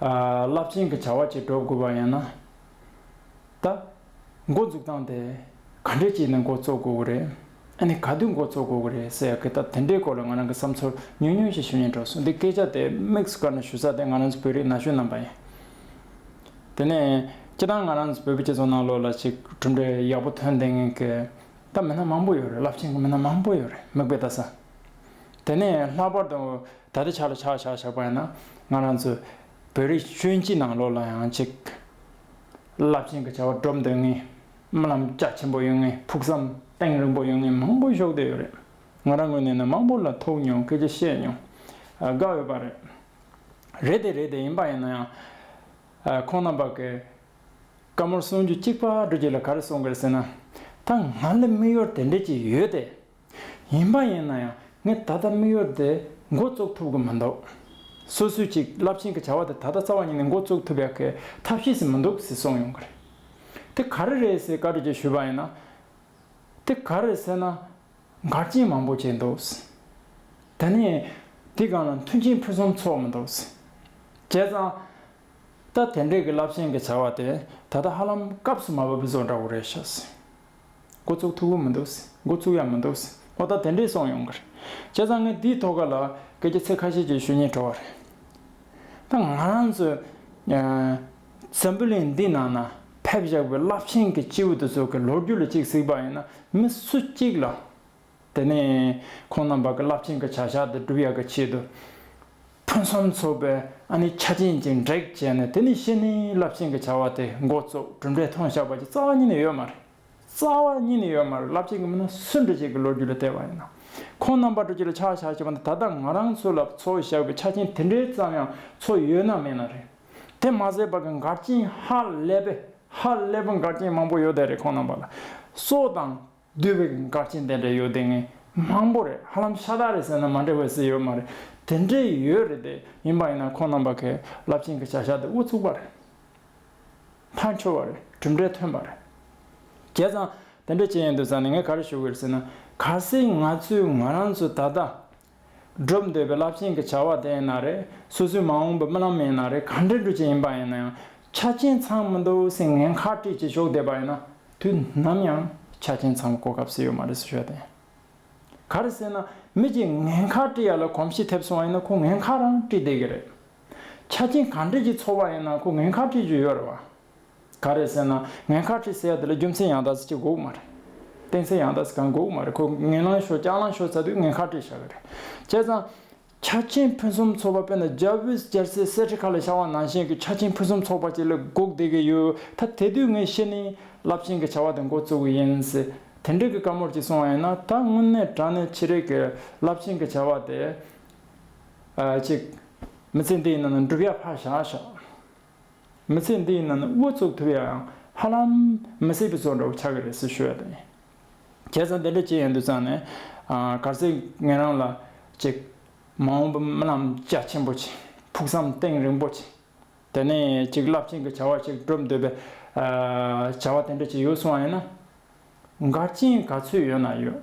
རླབས་ཆེན་གྱི་བྱ་བ་བྱེད་འགྲོ་དགོས་པ་ཡིན་ན། ད། འགོ་འཛུགས་སྟངས་དེ། ག་འདྲས་བྱས་ནས་འགོ་བཙུགས་དགོས་ཀྱི་རེད། ཨ་ནི་ག་དུས་འགོ་བཙུགས་དགོས་ཀྱི་རེད་ཟེར་ཡག་གི་ད་དེ་འདྲའི་སྐོར་ལ་ང་རང་གི་བསམ་ཚུལ་ཉུང་ཉུང་ཞིག་ཞུ་ཉན་འགྲོ་སོང་འདི་སྐད་ཆ་དེ་དམིགས་སུ་བཀར་ནས་ཞུ་ས་དེ་ང་རང་ཚོ་བོད་རིགས་ན་གཞོན་རྣམས་པ་ཡིན། དེ་ནས། སྤྱི་བཏང་ང་རང་ཚོ་བོད་པའི་སྤྱི་ཚོགས་ནང་ལོགས་ལ་ཞིག་གྲུབ་འབྲས་ཡག་པོ་ཐོན་བདེན་གི། ད་མི་སྣ་མང་པོ་ཡོད་རེད་རླབས་ཆེན་གྱི་མི་སྣ་མང་པོ་ཡོད་རེད་མིག་དཔེ་ལྟ་ས། དེ་ནས་ལྷག་པར་དུ་ད་ལྟ་ཆགས་ལ་ཆགས་བཞག་བཞག་པ་ཡིན་ན་ང་རང་ཚོ་བོད་རིགས་ཆོས་སྤྱི་ནང་ལོགས་ལ་ཡང་ཅིག། རླབས་ཆེན་གྱི་བྱ་བ་སྒྲུབ་འདོད་ངེས། རྨི་ལམ་རྒྱ་ཆེན་པོ་ཡོད་ངེས་ཕུགས་བསམ་གཏིང་རིང་པོ་ཡོད་ངེས་མང་པོ་ཤོག་དུས་ཡོད་རེད། ང་རང་ངོས་ནས་ནི་མང་པོ་ལ་ཐུག་མྱོང་སྐད་ཆ་བཤད་མྱོང། དགའ་འོས་པ་རེད། རེད་དེ་རེད་དེ་ཡིན་པ་ཡིན་ན་ཡང། ཁོང་རྣམ་པ་གི། བཀའ་མོལ་གསུང་རྒྱུ་གཅིག་པ་འགྲོ་རྒྱུ་ལ་ག་རེ་གསུང་དགོས་རེད་ཟེར་ན། ད་ང་ལ་དམིགས་ཡུལ་དེ་འདྲ་ཅིག་ཡོད་དེ། ཡིན་པ་ཡིན་ན་ཡང་ངས་ད་ལྟ་མིག་ཡོར་དེ་མགོ་བཙུགས་ཐུབ་ཀྱི་མི་འདུག་སུ་སུ་ཅིག་རླབས་ཆེན་གྱི་བྱ་བ་དེ་ད་ལྟ་རྩ་བ་ཉིད་ནས་མགོ་བཙུགས་ཐུབ་ཡག་གི་ཐབས་ཤེས་སུ་མི་འདུག་ཟེར་སོང་ཡོང་གི་རེད། དེ་ག་རེ་རེད་ཟེར་བཀའ་དྲིན་ཅན་ཞུས་པ་ཡིན་ན། དེ་ག་རེད་ཟེར་ན། འགར་སྐྱེལ་མང་པོ་བྱས་འདུག་ཟེར། དེ་ནས། དེ་གང་ལ་མཐུན་རྐྱེན་ཕུན་སུམ་ཚོགས་མི་འདུག་ཟེར། བྱས་ཙང། ད་དེ་འདྲས་ཀྱི་རླབས་ཆེན་གྱི་བྱ་བ་དེ་ད་ལྟ་ཧ་ལམ་སྐབས་སུ་མ་བབས་བཟོ་འདྲ་བོ་རེད་ཤག་ཟེར། འགོ་ཚུགས་ཐུབ་ཀྱི་མི་འདུག་འགོ་ཚུགས་ཡ་མི་འདུག་ཨོ་ད་དེ་འདྲས་སོང་ཡོང་གི་རེད། བྱས་ཙང་ངས་དེའི་ཐོག་ཁ་ལ་སྐད་ཆ་ཚིག་ཁ་ཤས་ཀྱི་ཞུ་སྙན་གྲོལ་བ་རེད། ད་ང་རང་ཚོས་ཟམ་བུ་ལིང་འདི་ནང་ན་ཕེབས་བཞག་པའི་རླབས་ཆེན་གྱི་སྤྱི་འོས་བསྡུ་ཚོགས་ཀྱི་ལོ་རྒྱུས་ལ་གཅིག་གཟིགས་པ་ཡིན་ན་མི་སུ་གཅིག་ལ་དེ་ནས་ཁོང་རྣམས་པར་གྱི་རླབས་ཆེན་གྱི་བྱ་བཞག་འདི་བསྒྲུབ་ཡག་གི་ཆེད་དུ། ཕུན་སུམ་ཚོགས་པའི་ཨ་ནི་ཆ་ཅན་གྱི་འབྲེག་བྱས་ནས་དེ་ནི་བཤེས་གཉེན་རླབས་ཆེན་གྱི་བྱ་བ་དེ་འགོ་བཙུགས་གྲུབ་འབྲས་མཐོང་བཞག་པ་ཀྱི་རྩ་བ་ཉིད་ནས་ཡོད་མ་རེད། རྩ་བ་ཉིད་ནས་ཡོད་མ་རེད་རླབས་ཆེན་གྱི་མི་སྣ་སུ་འདྲ་ཞིག་གི་ལོ་རྒྱུས་ལ་བལྟས་པ་ཡིན་ན། ཁོང་རྣམས་པར་དྲུག་ཅུ་ལ་ཕྱག་བཞག་བྱས་པ་འདི་ད་ལྟ་ང་རང་ཚོ་ལ་འཚོ་བཞག་གི་ཆ་རྐྱེན་དེ་འདྲའི་ཙམ་ཡང་འཚོ་ཡོད་ན་མེད་ན་རེད། དེ་མ་ཟད་པར་གྱི་མགར་རྐྱེན་ཧ་ལས་པས་ཧ་ལས་པའི་མགར་རྐྱེན་མང་པོ་ཡོད་བསྡད་རེད་ཁོང་རྣམས་པར་ལ་སོགས་དང། བསྡུས་པའི་སྐར་ཆེན་དེ་འདྲ་ཡོད་དེ་ངས་མང་པོ་རེད་ཧ་ལམ་ཤ་སྟག་རེད་ཟེར་ན་མ་འགྲིག་པ་ཟིག་ཡོད་མ་རེད་དེ་འདྲས་ཡོད་རེད་དེ་ཡིན་པ་ཡིན་ན་ཁོང་རྣམ་པ་གས་རླབས་ཆེན་གྱི་བྱ་བཞག་དེ་དབུ་ཚུགས་པ་རེད་མཐའ་འཁྱོལ་བ་རེད་གྲུབ་འབྲས་ཐོན་པ་རེད། བྱས་ཙང་དེ་འདྲས་བྱས་ཡོད་འདུག་ཟེར་ན་ངས་ག་རེ་ཞུ་གི་རེད་ཟེར་ན་གལ་སྲིད་ང་ཚོས་ང་རང་ཚོས་ད་ལྟ་སྒྲུབ་འདོད་པའི་རླབས་ཆེན་གྱི་བྱ་བ་དེ་ཡིན་ན་རེད། སོ་སོའི་མ་འོངས་པའི་རྨི་ལམ་ཡིན་ན་རེད་གང་དྲན་འགྲོ་ཆེད་ཡིན་པ་ཡིན་ན་ཡང། ཆ་རྐྱེན་ཚང་མི་འདུག་སེམས་ངལ་ཁ་དཀྲིས་ཀྱིས་ཞོགས་བསྡད་པ་ཡིན་ན། དུས་ནམ་ཡང་ཆ་རྐྱེན་ཚང་མ་གོ་སྐབས་སུ་ཡོད་མ་རེད་ཟེར་ཤོག་དེ། ག་རེ་ཟེར་ན། མི་གཅིག་ངལ་ཁ་དཀྲི་ཡ་ལ་གོམས་གཤིས་ཐེབས་སོང་བ་ཡིན་ན་ཁོ་ངལ་ཁ་རང་དཀྲིས་བསྡད་ཀྱི་རེད། ཆ་རྐྱེན་གང་དྲན་གྱིས་འཚོ་བ་ཡིན་ན་ཁོ་ངལ་ཁ་དཀྲིས་རྒྱུ་ཡོད་རེད་བ། ག་རེད་ཟེར་ན་ངས་ཁ་ཁྲིད་ཟེར་ཡ་དེ་ལ་རྒྱུ་མཚན་ཡང་དག་ཟེར་གྱི་དགོས་གི་མ་རེད། གཏན་ཚིགས་ཡང་དག་ཟེར་གང་དགོས་གི་མ་རེད་ཁོས་ངན་ལང་ཤོག་སྐྱག་ལང་ཤོག་ཟེར་དུས་ངས་ཁ་ཁྲིད་བྱ་གི་རེད། བྱས་ཙང། ཆ་རྐྱེན་ཕུན་སུམ་ཚོགས་པ་དཔེར་ན་རྒྱ་བོད་རྒྱལ་སའི་གསེར་ཁྲི་ཁ་ལ་ཤར་བ་ནང་བཞིན་གྱི་ཆ་རྐྱེན་ཕུན་སུམ་ཚོགས་པ་ཅིག་ལ་སྒུག་བསྡད་ཀྱི་ཡོད་ད་དེ་དུས་ངས་ཤེས་ནི་རླབས་ཆེན་གྱི་བྱ་བ་དེ་འགོ་བཙུགས་གི་ཡིན། དེ་འདྲའི་གི་བཀའ་མོལ་ཅིག་གསུང་བ་ཡིན་ན་ད་དངོས་གནས་དྲང་གནས་ཕྱི་རེས་ཀྱི་རླབས་ཆེན་གྱི་བྱ་བ་དེ། ཅིག། མི་ཚེ་འདི་ཡི་ནང་ན་འགྲུབ་ཡ་ཕར་བཞག་ཤག། མི་ཚེ་འདིའི་ནང་དབུ་བཙུགས་ཐུབ་ཡའང་ཧ་ལམ་མི་སྲིད་པའི་བཙོན་འགྲོ་བ་ཆགས་ཀྱི་རེད་ཟེར་ཞུ་ཡ་དེ་ཡིན། ཁྱེད་ཚང་དེ་འདྲ་ཅི་ཡང་འདུག་ཙང་ནས། གར་ཟེར་ངེད་རང་ལ་ཅིག། མ་འོངས་པའི་རྨི་ལམ་རྒྱ་ཆེན་པོ་ཅིག་ཕུགས་བསམ་གཏིང་རིང་པོ་ཅིག། དེ་ནས་ཅིག་རླབས་ཆེན་གྱི་བྱ་བ་ཅིག་བསྒྲུབ་འདོད་པའི། བྱ་བ་དེ་འདྲ་ཅིག་ཡོད་སོང་བ་ཡིན་ན། འགར་རྐྱེན་ག་ཚོད་ཡོད་ན་ཡོད།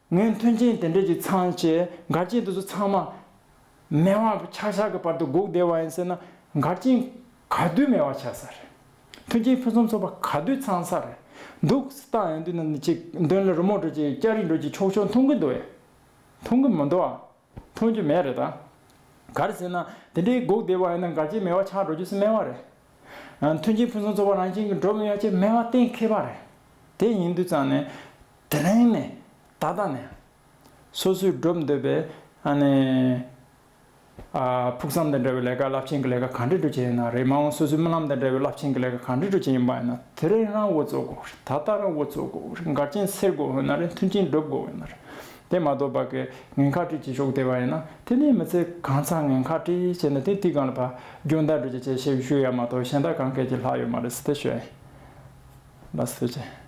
ངའི་མཐུན་རྐྱེན་དེ་འདྲས་ཀྱི་ཚང་བཅས་མགར་རྐྱེན་དེ་ཚོ་ཚང་མ། མེ་དབང་གི་ཆག་ཆག་གི་བར་དུ་སྒུག་བསྡད་པ་ཡིན་ཟེར་ན་མགར་རྐྱེན་ག་དུས་མེ་དབང་ཆག་ས་རེད། མཐུན་རྐྱེན་ཕུན་སུམ་ཚོགས་པ་ག་དུས་ཚང་ས་རེད། འདུག་སྟངས་ཡང་དུས་ན་ནི་ཅིག་འདོན་ལ་རི་མོ་འགྲོ་ཅིག་སྐྱ་རིས་འགྲོ་ཅིག་ཆོག་ཆོག་འཐུང་གི་འདུག་ཨེ། འཐུང་གི་མི་འདུག་ཨ། འཐུང་རྒྱུ་མེད་རེད་ད། གར་ཟེར་ན་དེ་འདྲའི་སྒུག་བསྡད་པ་ཡིན་ན་མགར་གྱི་མེ་བ་ཆགས་འགྲོ་རྒྱུ་སྨྲས་བ་རེད། མཐུན་རྐྱེན་ཕུན་སུམ་ཚོགས་པ་རང་བཞིན་གྱིས་འགྲོ་མི་ཡ་ཆེ་སྨྲས་བ་གཏན་འཁེལ་བ་རེད། དེ་ཡིན་དུས་ཙང་ནས། དེ་རིང་ནས། ད་ལྟ་ནས། སོ་སོས་སྒྲུབ་འདོད་པའི། ཨ་ནི། ཕུགས་བསམ་དང་འབྲེལ་བའི་ལས་ཀ་རླབས་ཆེན་གྱི་ལས་ཀ་གང་འདྲས་སྒྲུབ་བྱེད་ཡིན་ན་རེད་མ་འོངས་སོ་སོའི་རྨི་ལམ་དང་འབྲེལ་བའི་རླབས་ཆེན་གྱི་ལས་ཀ་གང་འདྲས་སྒྲུབ་བྱེད་ཡིན་པ་ཡིན་ན་དེ་རིང་རང་འུ་ཚོ་དགོས་རེད་ད་ལྟ་རང་འུ་ཚོ་དགོས་རེད་མགར་རྐྱེན་སེལ་དགོས་འོས་ན་རེད་མཐུན་རྐྱེན་སྒྲུབ་དགོས་འོས་ན་རེད། དེ་མ་གཏོགས་བག་གི་ངན་ཁག་དཀྲིས་ཀྱིས་ཤོག་དེ་བ་ཡིན་ན་དེ་ནས་མི་ཚེ་གང་ཚང་ངན་ཁག་དཀྲིས་བྱས་ན་དེ་དུས་གང་ལ་བག་རྒྱུ་འདར་འགྲོ་གྱི་ཆེད་ཤེའུ་ཤུ་ཡ་མ་གཏོགས་གཞན་དག་གང་སྐད་ཀྱི་ལྷག་ཡོད་མ་རེད་སི་ཏེ་ཞོན། ལ་སི་ཏེ་ཅན།